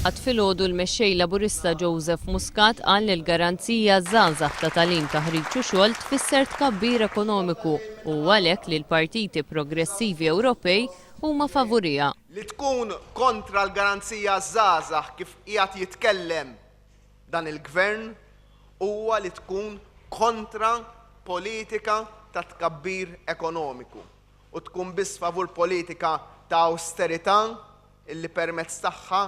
Għad filgħodu l-Mexxej Laburista Joseph Muscat qal li l-garanzija għaż-żgħażagħ ta' tagħlim, taħriġ u xogħol tfisser tkabbir ekonomiku u għalhekk li l-partiti progressivi Ewropej huma favuriha. Li tkun kontra l-garanzija għaż-żgħażagħ kif qiegħed jitkellem dan il-Gvern huwa li tkun kontra politika ta' tkabbir ekonomiku. u tkun biss favur politika ta' awsterità li permezz tagħha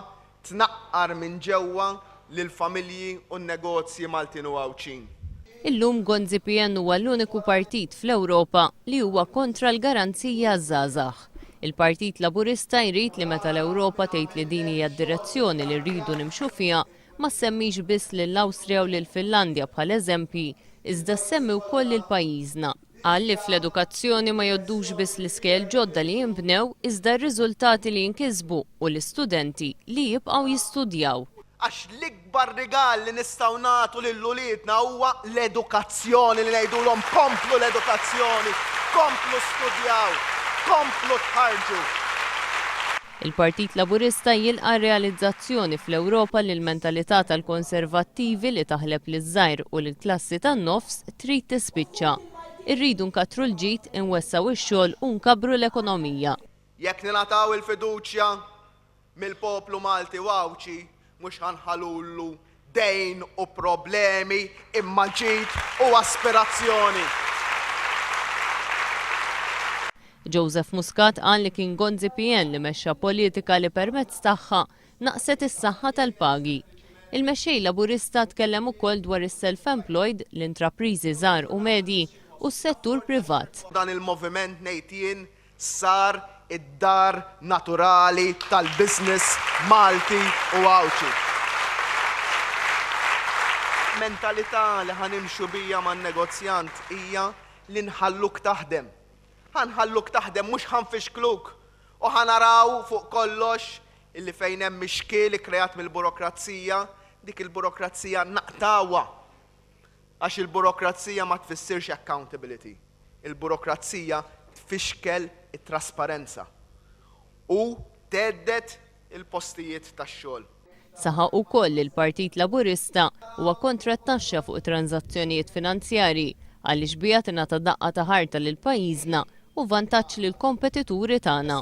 tnaqqar minn ġewwa lill-familji u n-negozji Maltin u Għawdxin. Illum Gonzi PN huwa l-uniku partit fl-Ewropa li huwa kontra l-garanziji għaż-żgħażagħ. Il-Partit Laburista jrid li meta l-Ewropa tgħid li din hija d-direzzjoni li rridu nimxu fiha ma ssemmix biss lill-Awstrija u lill-Finlandja bħala eżempji iżda ssemmi wkoll lil pajjiżna. Qal li fl-edukazzjoni ma jgħoddux biss l-iskejjel ġodda li jinbnew iżda r-riżultati li jinkisbu u l-istudenti li jibqgħu jistudjaw. Għax l-ikbar rigal li nistgħu nagħtu lil uliedna huwa l-edukazzjoni li ngħidulhom komplu l-edukazzjoni, komplu studjaw, komplu tħarrġu. Il-Partit Laburista jilqa' r-realizzazzjoni fl-Ewropa li l-mentalità tal-konservattivi li taħleb liż-żgħir u lill-klassi tan-nofs trid tispiċċa. Irridu nkattru l-ġid, inwessgħu x-xogħol u nkabbru l-ekonomija. Jekk ningħataw il-fiduċja mill-poplu Malti u Għawdxi, Mhux ħa nħallulu dejn u problemi imma ġid u aspirazzjoni. Joseph Muscat qal li kien Gonzi PN li mexxa politika li permezz tagħha naqset is-saħħa tal-pagi. Il-Mexxej Laburista tkellem ukoll dwar is-self-employed, l-intrapriżi żgħar u medji u s-settur privat. Dan il-moviment ngħid jien sar id-dar naturali tal-business Malti u Għawdxi. Mentalità li ħa nimxu biha man-negozjant hija li nħalluk taħdem. Ħa nħalluk taħdem mhux ħa nfixkluk u ħa naraw fuq kollox illi fejn hemm ix-xkiel ikkreat mill-burokrazija, dik il-burokrazija naqtgħuha. Għax il-burokrazija ma tfissirx accountability. Il-burokrazija tfixkel it-trasparenza u thedded il-postijiet tax-xogħol. Saħaq ukoll li l-Partit Laburista huwa kontra t-taxxa fuq it-tranżazzjonijiet finanzjarji għaliex biha tingħata daqqa ta' ħarta lil pajjiżna u vantaġġ lill-kompetituri tagħna.